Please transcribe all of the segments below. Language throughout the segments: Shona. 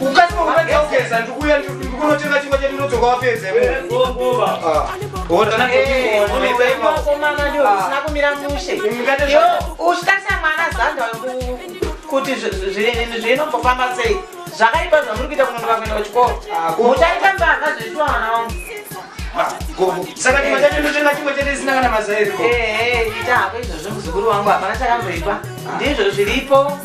ukaimaunaogeza ndikuya ndikunotenga chingwa chedu ndodzoka wapedze ushitarisa mwana zanda kuti zvinombofamba sei zvakaipa zvamuri kuita kunonoka kuenda kuchikoro muchaita mbavha zveshuwa mwana wangu saka chimwe chacho ndotenga chimwe chete isina kana mazairi ita hako izvozvo muzukuru wangu hapana chakamboipa ndizvo zviripo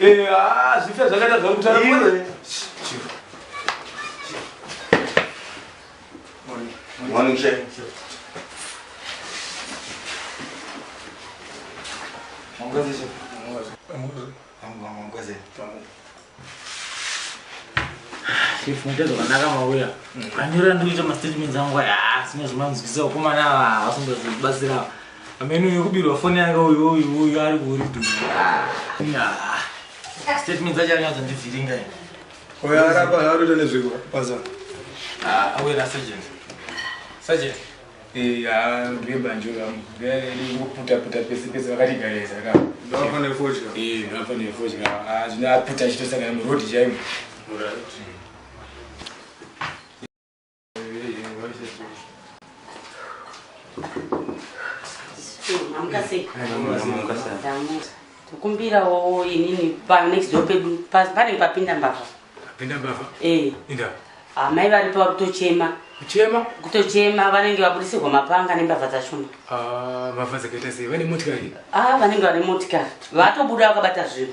Eh, haa zvife zvakaita zvari kutara iwe Morning, Shay. Mwangozi, Shay. Mwangozi. Chief muite zvakanaka mauya anyora ndikuita mastatements angu aya sine zvimanzwisa ukomana ava hasingazibatsirawo Ameno uyu kubirwa foni yake uyu uyu uyu ari kuuri du. Statement dzacho anyadzo ndivhiringa ini. Oya arapa arota nezviko paza. Ah, awera sergeant. Sergeant. Eh, ah, ndiye banjo ramu. Ndiye kuputa puta pese pese vakati gareza ka. Ndapa ne fodya. Eh, ndapa ne fodya. Ah, zvina puta chito saka mu road jaim. Alright. tokumbirawo inini panext door pedu panenge papinda mbavha papinda mbavha eh. inda amai ah, varipo vari kutochema kuchema kutochema vanenge vaburisirwa mapanga nembavha dzashoma ah, mbavha dzakaita sei vane motikari a ah, vanenge vane motikari vatobuda vakabata zvinhu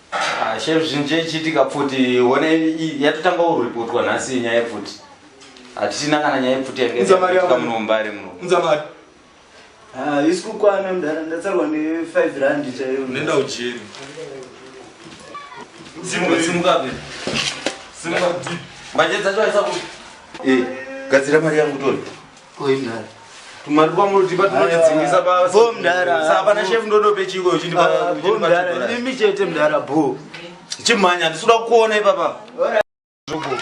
Ah, shem zvinhu chaichiitika pfuti one yatotanga kuripotwa nhasi nyaya yepfuti hatichina kana nyaya yepfuti yangeika muno mumbare muno unza mari ah, isi kukwana mudhara ndatsarwa ne5 rand chaiyo nenda ujeri simukabe simuka manje dzacho aisa kuti eh, gadzira mari yangu toni Ko imdara. Tumari kwa muri tipa tunotidzingisa baba. Bo mdara. Saka pana chef ndodo pechiko uchindipa. Ah, bo mdara. Nimi chete mdara bo. Chimanya ndisuda kuona ipapa. Zvogo.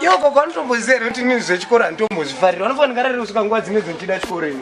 Yo ko kwani tombozera kuti nini zvechikora ndombozvifarira. Unofanira ngarare usika nguwa dzine dzinochida chikoro ino.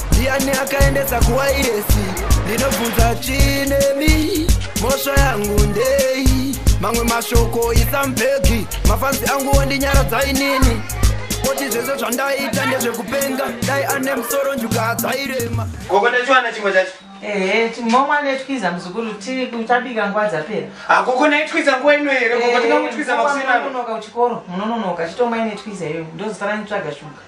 ndiani akaendesa kuwairesi ndinobvunza chinemi mhosva yangu ndei mamwe mashoko isambhegi mafanzi angu wondinyaradza inini koti zvese zvandaita ndezvekupenga dai ane musoro njuka adzairema gogo ndachiwana chimwe chacho ehe timomwa netwiza muzukuru tabika nguva dzapera hakuko ah, naitwiza nguva ino here gogo tingamutwiza makusinanonoka kuchikoro munononoka chitomwa inetwiza iyoyo ndozisara nitsvaga shuga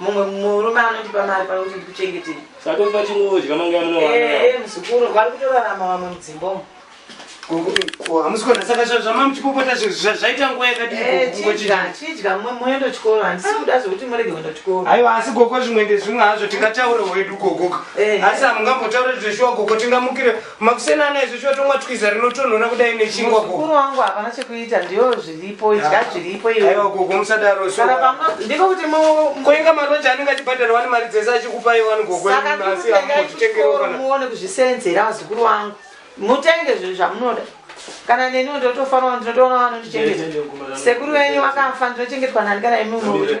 mumwe murume anondipa mari pano kuti ndikuchengetei satofa chinodya mangaya munowana Eh, muzukuru vari kutorarama vamwe mudzimba umu hamusi kuona saka zva- zvamamuchipopota zvi- zva- zvaita nguva Eh, yakadii chidya chidya mwe- muendo chikoro handisi kuda zvekuti murege kuenda chikoro aiwa asi gogo zvimwe ndezvimwe hazvo tingataure hwedu gogoka Eh. asi hamungambotaure zveshuwa gogo tingamukire Makuseni ana izvo chotomwa twiza rinotonhora kudai nechingwa ko. Mukuru wangu hapana chekuita ndiyo zviripo idya ah. zviripo iwe. Aiwa gogo musadaro so. Kana pamwe ndiko kuti mu koinga maroja anenge achibhadhara wani mari dzese achikupa iwe wani gogo asi amutengera kana. Muone kuzvisenzera vazukuru wangu. Mutenge zvinhu zvamunoda. Kana neni ndotofanwa ndinotoona vanondichengeta. Sekuru wenyu wakafa ndinochengetwa nani kana imi munoda.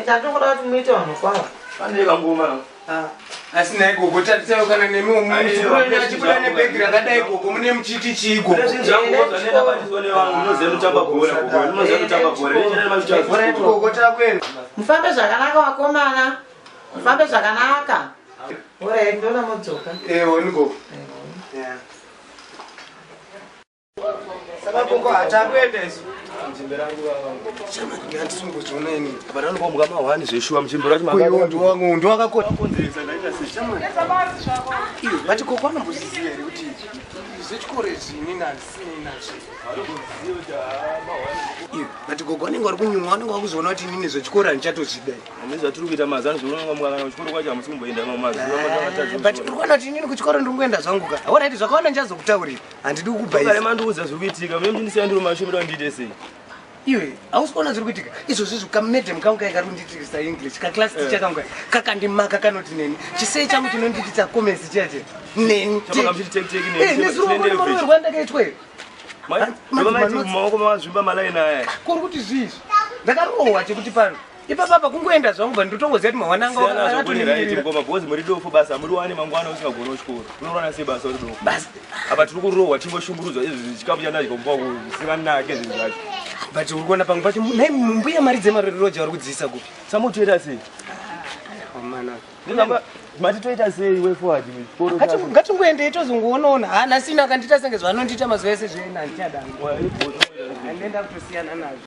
Ita ndokuda kuti muite vanhu kwavo. Pane vangoma no. Ah. Asi naye gogo tatisayo kana nemi muzukuru achibuda nebhegi rakadai gogo mune muchiti chii gogo. Mufambe zvakanaka vakomana. Mufambe zvakanaka. Ora ndona modzoka. Eh, woni gogo. Yeah. but gogo anenge ari kunyumwa anenge akuzoona kuti inini zvechikoro handichatozvida ane zvatiri kuita mazano zvononokamukakana kuchikoro kwacho hamusi kumboenda mamwe mazuva but uri kuona kuti inini kuchikoro ndiri kuenda zvangu ka hauraiti zvakawanda ndichazokutaurira handidi kukubaira mandiudza zviri kuitika mimi ndisiya ndiri mumashopu da ndiite sei iwe hausi kuona zviri kuitika izvozvi zvi kamedem kangu kai kari kundiitirisa english kaclass eh. ticha kangu kai kakandimaka kanoti neni chisei changu chinondiitisa comments chiya che neni eh, nezvirikuoerwa ndakaitweyo maoko mazvimba malaini aya kuri kuti zviizvi ndakarohwa chekuti pano ipapa apa kungoenda zvangu bva ndotongoziva kuti mawananga akatoningirirangoma bhozi muri dofo basa muri wane mangwana usingagona uchikoro unorwana sei basa uri dofo basa apa tiri kurohwa tingoshungurudzwa izvi zvichikapu chandadya kumba kusivanake zvinhu zvacho but uri kuona pamwe pacho nai mbuya mari dzemaroja vari kudziisa kupi samotoita sei ah, mati toita sei wefoadngatingoendei tozongoonaona ha ah, nhasina akandiita senge zvaanondiita mazuva ese zvenandichadanga andienda kutosiyana nazvo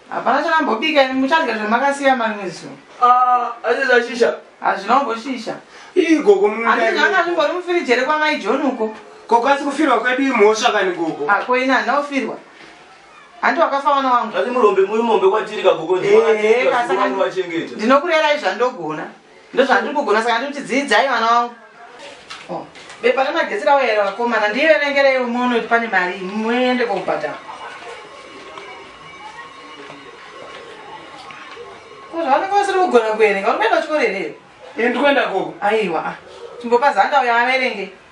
Hapana chamambobika ini muchadya zvamakasiya marimwe zuva. Ah, asi zvashisha. Hazvina kumboshisha. Ii gogo mumunda. Handiti zvanga zvimbori mufiriji here kwamai John uko? Gogo asi kufirwa kwedu imhosva kani gogo. Ah, ko ini handina kufirwa. Hanti wakafa mwana wangu. Zvati murombe muri mombe kwatiri kagogo. Eh, eh, ndinokurerai zvandogona. Ndozvandiri kugona saka ndiri kuti dziidzai vana wangu. Oh. Bepa remagetsi rawo here vakomana ndiverengerei umono kuti pane mari muende kokubhadhara. Ko zvavanenge vasiri kugona kuverenga uri kuenda kuchikoro here? Ini ndiri kuenda koko. Aiwa. Chimbopa zanda uyo averenge.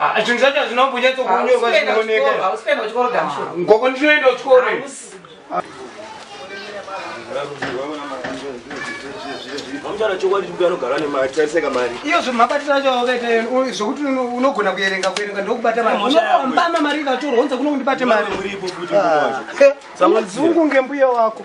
Ah, zvinhu zvacho hazvina kumbonyatso kunyorwa zvinoonekangoko ndinoenda kuchikoro iyo zvemabatiro acho akaita zvokuti unogona kuerenga kuerenga ndokubata mariambama mari ikatorwa onza kuno kundibate mari ah. zungu ngembuya wako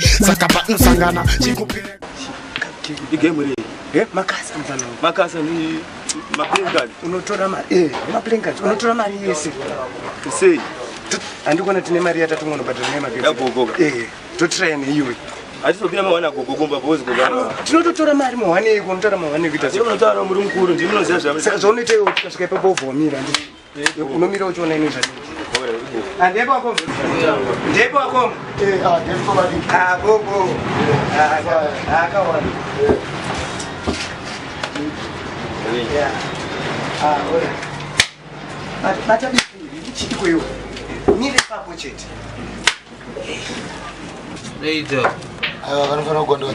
saka panosangana chikupera igame rei eh, makasa makasa ni maplinkard unotora mari eh maplinkard unotora mari yese sei andikona tine mari yatatu ngono but tine mari ya gogo eh to train you atizopira mawana gogo kumba bozi gogo ah, tinototora mari mawana yeko unotora mawana yeko tinotora mari muri mukuru ndinoziva zvamisa zvaunoita iwe kusvika ipapo ubvomira ndii unomira uchiona ini zvandepo ah, akombo ndepo akombo akombo akawana bata chitiko iwo mire papo chete vanofanira kugondoza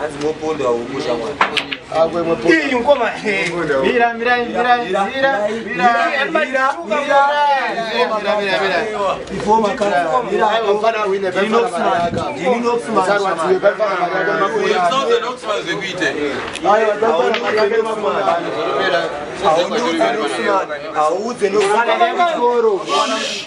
hanzi mopondwa huku shamwari audze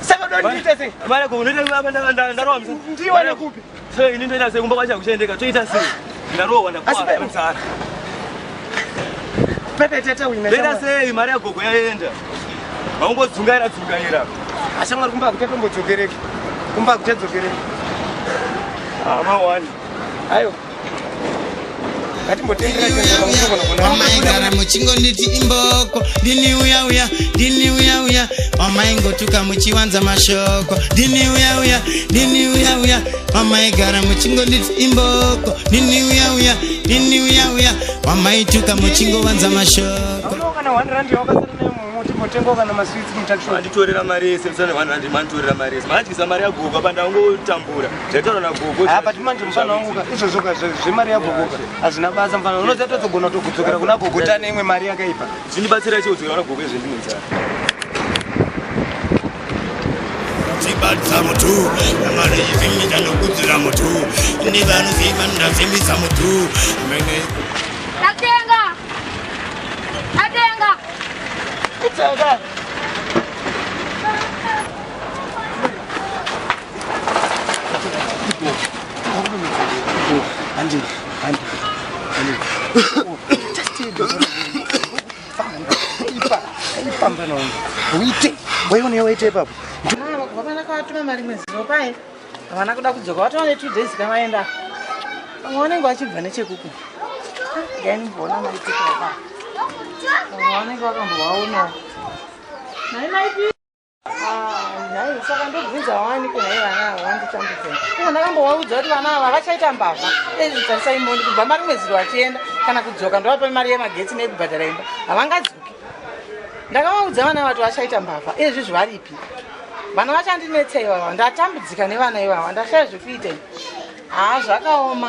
Saka ndondiita sei? Vale ko unoita baba ndarowa msa. Ndiwa nekupi? So ini ndoita sei kumba kwacha kuchendeka toita sei? Ndarowa ndakuwa msa. Pepe tete wina. Ndoita sei mari ya gogo yaenda? Vaungodzungaira dzungaira. Ashamwari kumba kuteto mbodzokereke. Kumba kuteto dzokereke. Ah, ma one. Ayo. wamaigara muchingonditi imboko ndini uya uya ndini uya uya wamaingotuka muchiwanza mashoko ndini uya uya ndini uya uya wamaigara muchingonditi imboko ndini uya uya ndini uya uya wamaituka muchingovanza mashoko motengo kana maswitsi mutakiwa anditorera mari yese msana vanhu andimanditorera mari yese maandiisa mari yaguka pandaungotambura Zvaitaura gogo. Ah but manje mfana wangu ka izvo zvoka zvemari yako gogo. Azina basa mfana. Unoza totogona tokudzokera kuna gogo tane imwe mari yakaipa. Zvindibatsira chio kudzokera kuna gogo izvo ndinonza. Tibatsa mutu, mari yimita nokudzira mutu. Ndi vanhu ziva ndazimisa mutu. Mene. Natenga. Natenga. It's okay. uite waione waite ipapo vana kavatuma mari mwedzi ropai havana kuda kudzoka vatova netwo days kavaenda vamwe vanenge vachibva nechekuku gainimboona maitikaaa vanenge vakambovaonawo nai maipi nhai saka ndobvunza wani kunhai vana ava vanditambudza iko ndakambovaudza kuti vana ava vachaita mbavha ezvitarisai moni kubva mari mweziro vachienda kana kudzoka ndovapa mari yemagetsi nekubhadhara imba havangadzoki ndakavaudza vana vati vachaita mbavha ezvi zvivaripi vana vachandinetsa ivava ndatambudzika nevana ivava ndashaya zvekuita haa zvakaoma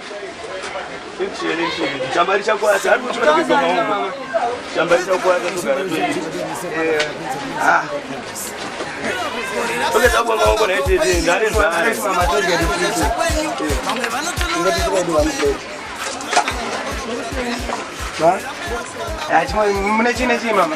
Mune chine chii mama?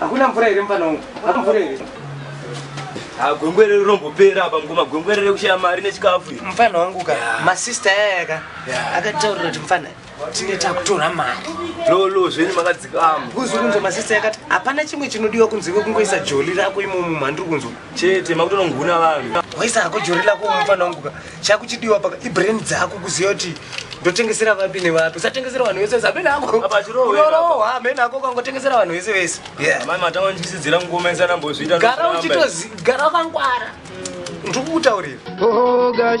Hakuna mvura here mfana wangu? Hakuna mvura here? Ah, gwengwere rinombopera apa mukoma gwengwere rekushaya mari nechikafu iri. Mfana wangu ka, masista yaya ka, akataurira kuti mfana tine takutora mari. Lolo zvenyu makadzikama. Kuzi kunzwa masista yakati hapana chimwe chinodiwa kunze kwekungoisa joli rako imomo mandiri kunzwa. chete makutononguna vanhu waisa hako jori lako mufana wangu ka chakuchidiwa paka ibrain dzako kuziva kuti ndotengesera vapi nevapi usatengesera vanhu vese vese amene ako Apa chirohwa iri apa. Unorova, amene ako ukangotengesera vanhu vese vese Yeah. amai matanga ndichisidzira ngoma isana mbozviita gara uchitozi gara wakangwara ndiri kukutaurira Oh gosh.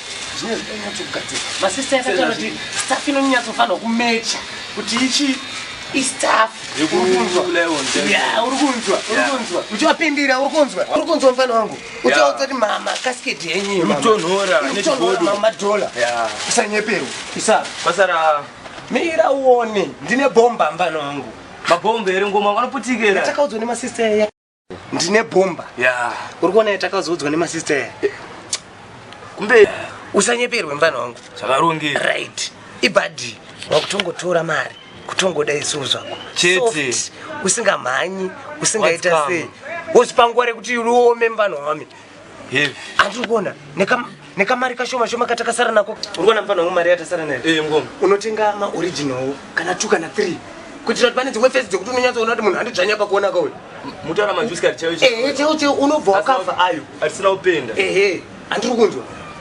zvinenge zvinonyatsogadzirwa masista yakataura kuti staff inonyatsofanirwa kumecha kuti ichi istaff uri kunzwa uri kunzwa uchivapindira uri kunzwa uri kunzwa mufana wangu uchaudza kuti mama kasiketi yenyu mamadhola usanyeperwa isa pasara mira uone ndine bhomba mfana wangu mabhomba here ngoma vanoputikira takaudzwa nemasista ndine bhomba yeah. uri kuona yatakazoudzwa nemasister ya eh, kumbe usanyeperwe mfana wangu zvakaronge right ibadi wakutongotora mari kutongoda isuvu zvako chete usingamhanyi usingaita sei wozvipangware kuti uriome mfana wami handiri kuona nekamari kashoma shoma katakasara nako uri kuona mupana wangu mari yatasara nayo eh, unotenga maoriginal kana two kana three kuitira kuti pane dzimwe fesi dzekuti unonyatsoona kuti munhu handidzvanya pakuona kauyo mutaura majusikari chaiwo chaiwo unobva wakava ayo atisina kupenda ehe handiri kunzwa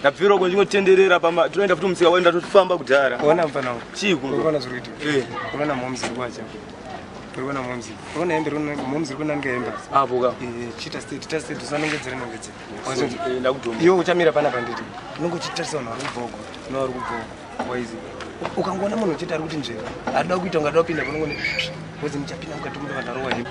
ndabvira uko ndingotenderera pamba tinoenda futi musika waenda tofamba kudhara ona mfana uyu chii kuno unoona zviri kuitika eh unoona momzi iri kwacha unoona momzi unoona hembe unoona momzi iri kunanga hembe apo ka eh chita state chita state usanongedzere nongedzere eh, ndakudhoma iwe uchamira pana panditi unenge uchitarisa vanhu vari kubvogo no vari kubvogo waizi ukangoona munhu uchiti ari kuti nzvera adoda kuita ungadoda kupinda panongone wozi muchapinda mukati muno vanhu varowa hembe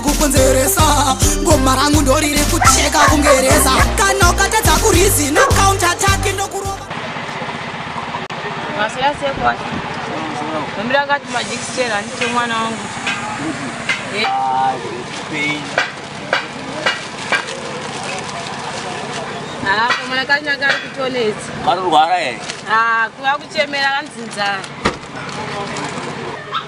kukonzeresa goma rangu ndoriri kucheka kungereza kana ukatadza kurizi na counter attack ndokurova masiyasekwa ambira akati majikisera handite mwana wangu apo mwana kanya kari kutonetsa marurwara here akuva kuchemera kanzinzara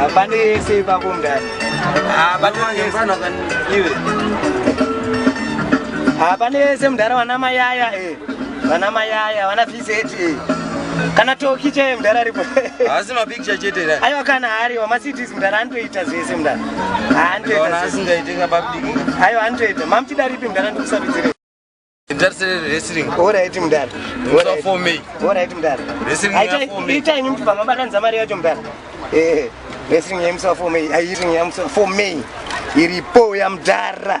Hapana yese ipapo mndani. Hapana yese. Hapana yese mndara wana mayaya eh. Wana mayaya, wana fizeti eh. Kana toki che mndara ripo. Asi mapi aiwa kana hariwa macities mdara anotoita zvese mdara aiwa anotoita mamuchida ripi mdara ndikusarudzire oraiti mdara oraiti mdara itai ini mtibva mabatanidza mari yacho mdara eh, wrestling yamusa for me ayiring yamusa for me iripo yamdara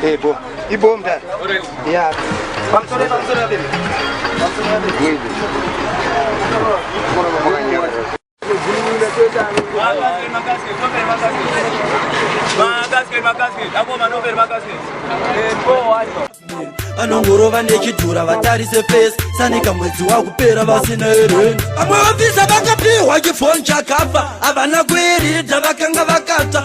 Hey, bo. Ibo mdala. Yeah. Pamsore pamsore baby. Pamsore baby. anongorova nechidhura vatarise fesi sanika mwedzi wakupera vasina ereni vamwe vafisa vakapihwa chifoni chakafa havana kuiridza vakanga vakata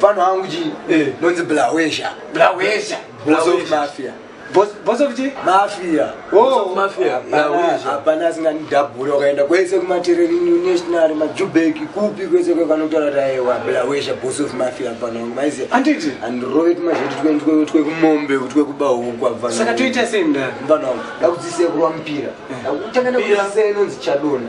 pano hangu chi eh. nonzi blawesha blawesha mafia boss of chi mafia oh. hapana asinganidhabhuri wakaenda kwese kumatereri new national majubeki kupi kwese kwekanotaura taewa blawesha boss of mafia pano hangu maiziva anditi andirove tumazveti twekumombe twekubahukwa saka toita sei mdana pano hangu dakudzisei kurwa mupira eh. dakutangandakudzisei nonzi chadona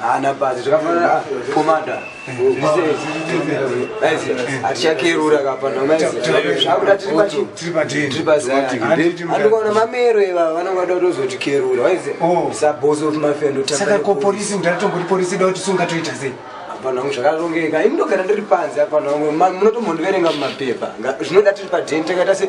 haana basa zvakafanana komanda hatichakerura kapanaakudatiripachiandikaona mamero ivava vanenge vada kutozotikerura waize sabhosi of mafendo saka ko polisi mudharatomgoti polisi ida kuti sungatoita sei vanhu vangu zvakarongeka imdogara ndiri panze avanhu vangu munotombondiverenga mumapepa zvinoda tiri padheni takaita se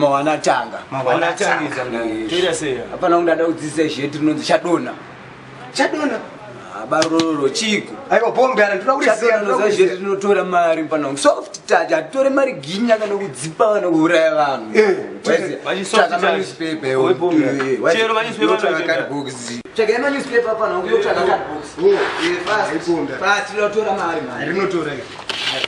mawanatangaapanaa kundada kudzidzisa izvi yeti rinonzi chadona chadona barororo chiko aiwa bombe ara ndoda kutiziazviri tinotora mari panangu soft touch hatitore mari ginya kana kudzipa kana kuuraya vanhu eh, eh, eh, rinotora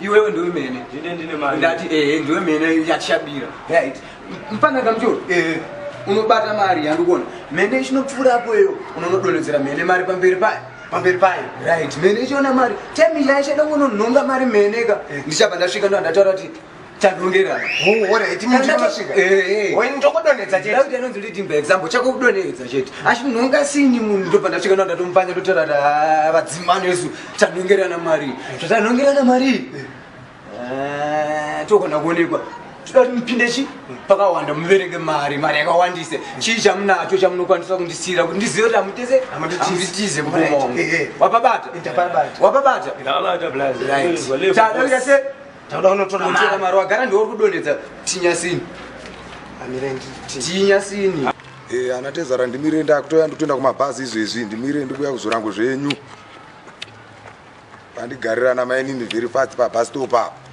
iwewe ndiwe mene ndine ndine mari ndati eh ndiwe mene yachabira right mpana kamjo eh unobata mari yandikuona mene chinopfuura apo iyo unonodonedzera mene mari pamberi payo pamberi payo right mene ichiona mari time yaichada kunonhonga mari mene ka eh. ndichabva ndasvika ndo andataura kuti tadongera anonzi leading by example chako kudonedza chete asi munhu ungasini munhu ndobva ndasvika ndo ndatomupange ndotorata vadzimano yesu tanongerana mari zvatanongerana mari eh, tokona kuonekwa toda kuti mupinde chi pakawanda muverenge mari mari yakawandise chii chamunacho chamunokwanisa kundisiyira kuti ndizive kuti amutese amutize kubomongo eh, eh. wapabata wapabata tadaita se tauda unotora mari wagara ndiwo uri kudonhedza tinyasini tinyasini ana tezara ndimire ndakutoya ndikutoenda kumabhazi izvezvi ndimire ndikuya kuzorango zvenyu pandigarira namainini vhiri pasi pabastop apo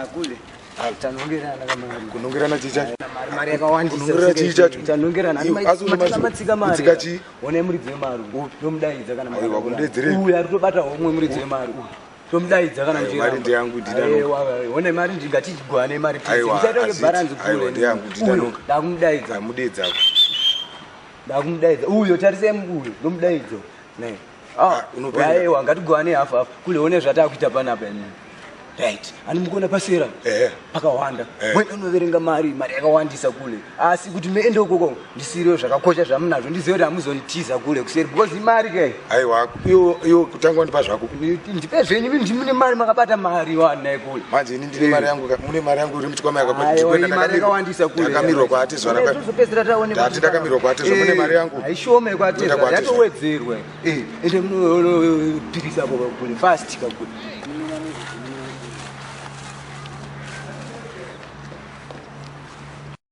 akule ah, tanongerana kunongerana chii chacho mari yakawandisakunongerana chii chacho tanongerana matsika maritsika chii one muridzi wemari ndomudaidza kana aiwa kundedzerei uya tobata homwe muridzi wemari tomudaidza kana mari ndeyangu ndione mari ndingatichigwane mari aiwa ndiyangu ndidanoka ndamudaidza amudeidza ndakumudaidza uyo tarisai mukuyo ndomudaidzo ne ah, aiwa ngatigovane hafu hafu kule one zvataakuita panapa ini right ani mukuona pasera eh. pakawanda eh. mwena unoverenga mari mari yakawandisa kule asi kuti meende ukoko ndisirio zvakakosha zvamunazvo ndizive kuti hamuzonitiza kule kuseri because imari ke aiwa Iwo iwo kutangwa ndipa zvako. Ndipe zvenyu mimi ndimune mari makabata mari wana ikule. Manje ini ndine mari yangu mune mari yangu iri mutkwama yakabata ndikwenda ndakawandisa kule. Ndakamirwa kwa ati zwana kwa. Ndozopedzera taone. Ndati ndakamirwa kwa ati zwana mune mari yangu. Haishome kwa ati zwana yatowedzerwa. Eh, ende muno pirisa kwa kule fast kwa kule.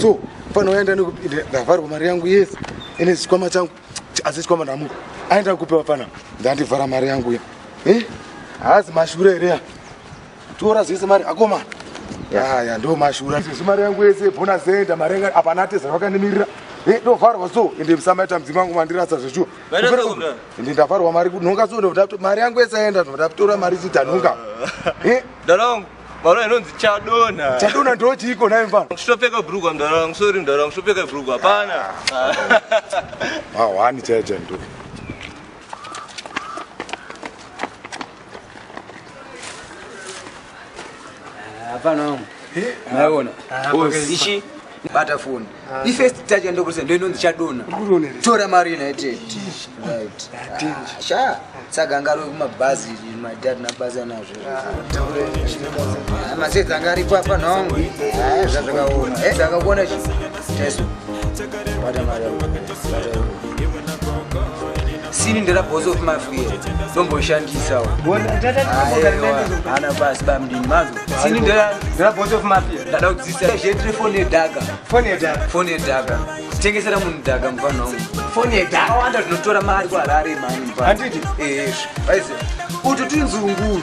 so fana waenda ndavharwa mari yangu yes ine chikwama changu asi chikwama ndamuka aenda kupewa fana ndandivhara mari yangu ya eh? haazi mashure here ya tora zvese mari akomana yaya ndo mashura sezvi mari yangu yese bona zenda mari yanga apana ateza vakanimirira eh, ndovharwa so ende msamaita mudzimu wangu mandirasa zveshuwa ende ndavharwa mari kunhonga so mari yangu yese aenda ndoda kutora mari chitanhonga eh? Mwana inonzi chadona. Chadona ndo chiiko naye mfana? Kusopfeka brugwa mdara wangu, sorry mdara wangu, kusopfeka brugwa hapana. Ah, wani chaja ndo. Hapana wangu. Eh? Naona. Ah, Ishi bata foni ah. ifirst touch yandokurisa ndoinonzi chadona tora mari united sha saka anga ari kumabhazi madad nabhazi anazvo masedzi anga aripo apa nhongo zvazvakaona e zvakakuona chi taiso bata mari sini ndira boss of mafia ndomboshandisawo ana basi bamdini mazo sini ndira ndira boss of mafia ndada kudzisa zhetri phone yedhaka phone yedhaka phone yedhaka tengesera munhu dhaka mufana wangu phone yedhaka awanda tinotora mari kuharare mani mfana handiti eh aize utu tinzunguru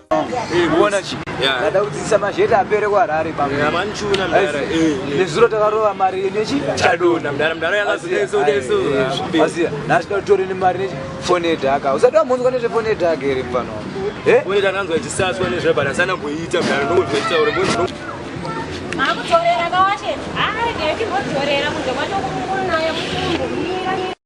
kuona chi ndada kudzidzisa mazheti apere kuharare nezuro takarova mari nechi chadonaazia naasida kutore nemari nechi fone yedhaka usati wamhunzwa nezvefone yedhaka here mfano fone tananzwa ichisaswa nezvebut asana kuiita mdara ndokuzoitaure makutorera kawashe arege yechimbotorera kunze kwacho kumukuru nayo kutumbu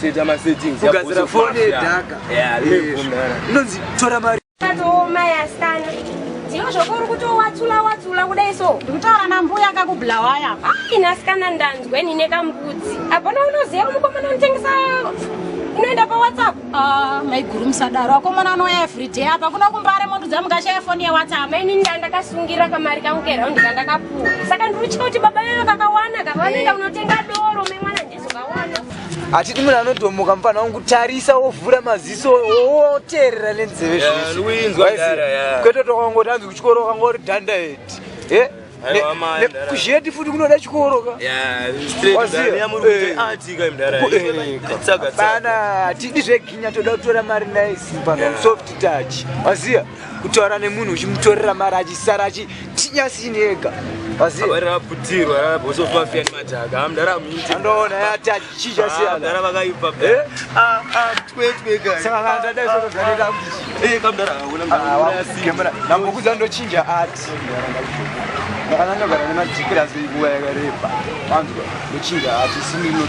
Seta ma settings. Kugadzira phone yedhaka. Yeah, ndinobvumira. Ndonzi tora mari. Tatooma yasana. Ndiyo zvoko uri kutowatsula watsula kudai so. Ndikutaura nambuya anga kubulawaya. Ai nasikana ndanzwe nine kamukudzi. Apana unoziva mukomana unotengesa unoenda pa WhatsApp. Ah, uh, maiguru musadaro. Akomana anouya every day apa kuna kumbare moto dzamukashaya phone ye WhatsApp. Maini ndandakasungira kamari kangu keraundi kandakapuwa. Saka ndiri kuti baba veyo kakawana kaka vanoenda eh. kunotenga doro memwana hatidi munhu anodhomoka mufana wangu tarisa wovhura maziso woteerera nenzeve zvezvikwete tokangoti anzi kuchikoro kangori dhanda heti e kuzheti futi kunoda chikorokaana hatidi zveginya toda kutora mari naye simba soft touch waziva kutaura nemunhu uchimutorera mari achisara achitinyasini ega ndambokuza ndochinja ati ndakananga gara nemadhikira zvinguva yakareba anzwa ndochinja ati sininoa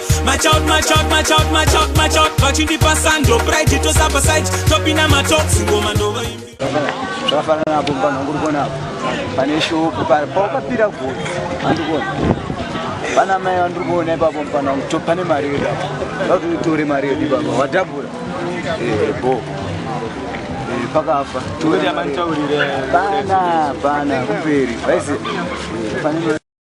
machout machout machout machout machout vachindipa sando pride tosapa side topinda matox ngoma ndova imbi zvakafanana apo mubana wangu urikuona apo pane shopu paukapira goti andikuona pana mai vandiri kuona ipapo mubana wangu to pane mari yedu apo vatoitore mari yedu ipapa wadhabura eh, bo eh, pakafa pana pana kumberi vaise eh,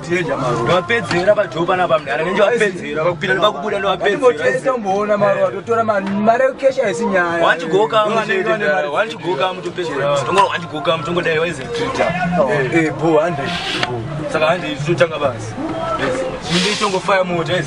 Teja maro. Ndopedzera pa job ana bamda. Ana nje wapedzera vakupinda ne vakubuda ndo wapedzera. Ndipo tesa mboona maro watotora ma mare cash haisi nyaya. Wanti goka mshede. Wanti goka mtu pedzera. Tongo wanti goka mtu ngo dai waize Teja. Eh bo 100. Saka handi isu tanga basi. Minde tongo fire motor yes.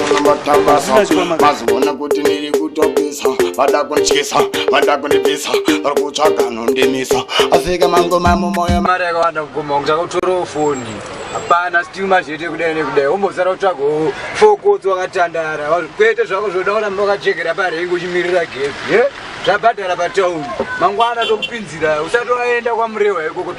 vaziona kuti ndiri kutopisa vada kundyisa vada kundibvisa vari kutsvaga nondimisa afika mangoma mumoyo mari yakawanda kugoma kunge chakautorawo foni hapana still mazvete kudai nekudai wombosara kutsvagawo fokotsi wakatandara kwete zvako zvoda kuramba wakachekera parengi uchimirira gezi ye zvabhadhara patauni mangwana tokupinzira usati waenda kwamurewa ikoko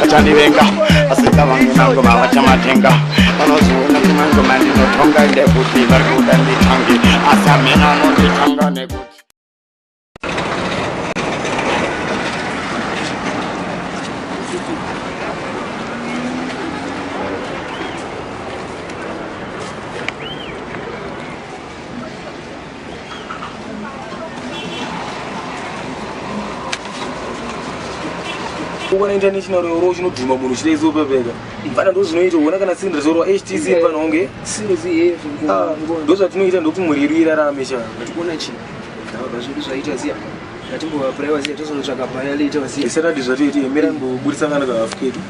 vachandivenga asika vangu nangu vavachamatenga vanozoona kumangu mandinotonga ndekuti vari kuda nditange asi amene anonditanga nekuti kuona international roro chinodhuma munhu chida izopepeka vana ndo zvinoita uona kana sindri zorwa htc pano onge ah, ndo zvatinoita ndokuti mhuri yedu irarame cha isatadi zvatoiti emera mbobudisa kana kahafu kedu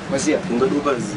ungadopazi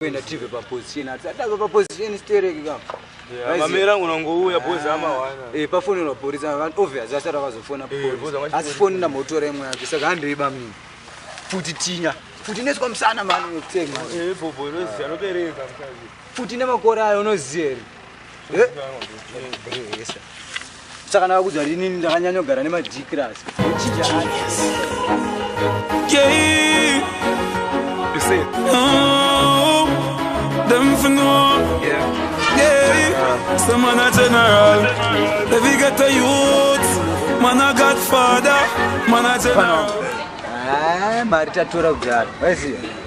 kuenda tive paposition asi atave paposition stereki ka mamera ngo nangouya bozi amawana e pafonera mapurisa obvious asati akazofona eh, asi foni namotora imwe yacho saka handoiba mini futi tinya futi neswa musana mani wekutsenga eh, futi nemakore ayo unoziva here eh? eh, eh, saka ndakakudzwa rinini ndakanyanyogara nemadikirasi Someone a general, if you get a youth, man a godfather, man a general. Ah, Marita Tura Gad, where's he?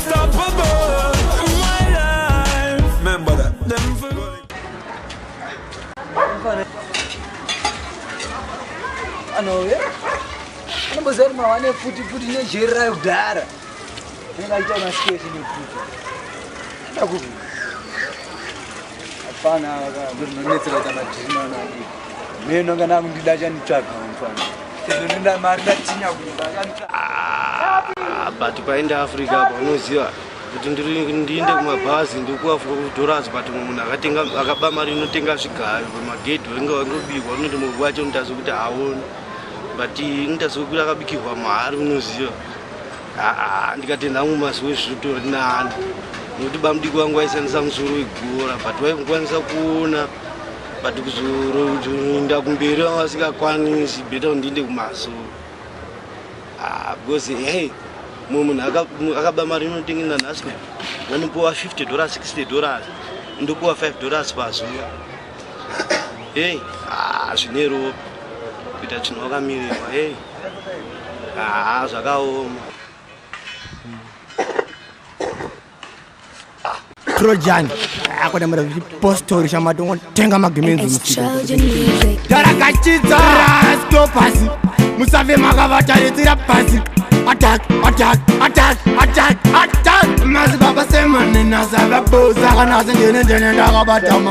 anouya anomboziva kuti mawane futi futi nejeri rayo kudhara anenge aita masiketi nekuti Hapana zvinonetsera kuita madhirima ana adiki. Mimi nonga nakundida chanitsvaga mfana. Sezvo ndinda mari ndatinya kumba chanitsvaga. Ah, but paenda Africa apa unoziva kuti ndiri ndiende kumabhazi ndikuafura kudoras but munhu akatenga akaba mari inotenga zvigayo pamagedhi wainge wangobikwa unoti murwi wacho unotazve kuti haoni but unotazve kuti akabikirwa mahari unoziva haa ndikati nhangu mazuva ezvitori nani nokuti bamudiki wangu waishandisa musoro wegora but waikukwanisa kuona but kuzoroinda kumberi vanga vasingakwanisi beta kundiinde kumaso ah, because hey mumwe munhu akaba mari inotengenda nhasi vanopiwa 50 dollars 60 dollars ndopiwa 5 dollars pazuva hey ah zvine ropa kuita chinhu wakamirirwa hey ah zvakaoma trojan akona mara chipostori chamatongo tenga magemenzi musikarakachidza rasto pasi musave makavataritsira pasi attack attack attack attack attack mazibaba semanenasavaboza kana asendenendenendakabatama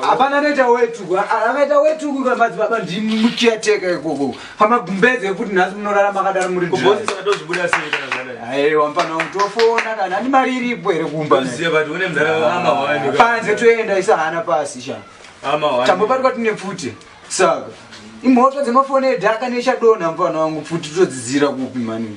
hapana anoita wetuku akaita wetuku kamadzibaba ndimuchiateka ikoko pamagumbeze ekuti nhasi munorara makadaro muri aiwa mfana wangu tofona kana ani mari iripo here kumba panze toenda isa hana pasi sha tambobatwa tine pfuti saka imhoto dzemafoni edhaka nechadonha mfana wangu pfuti todzidzira kupi mani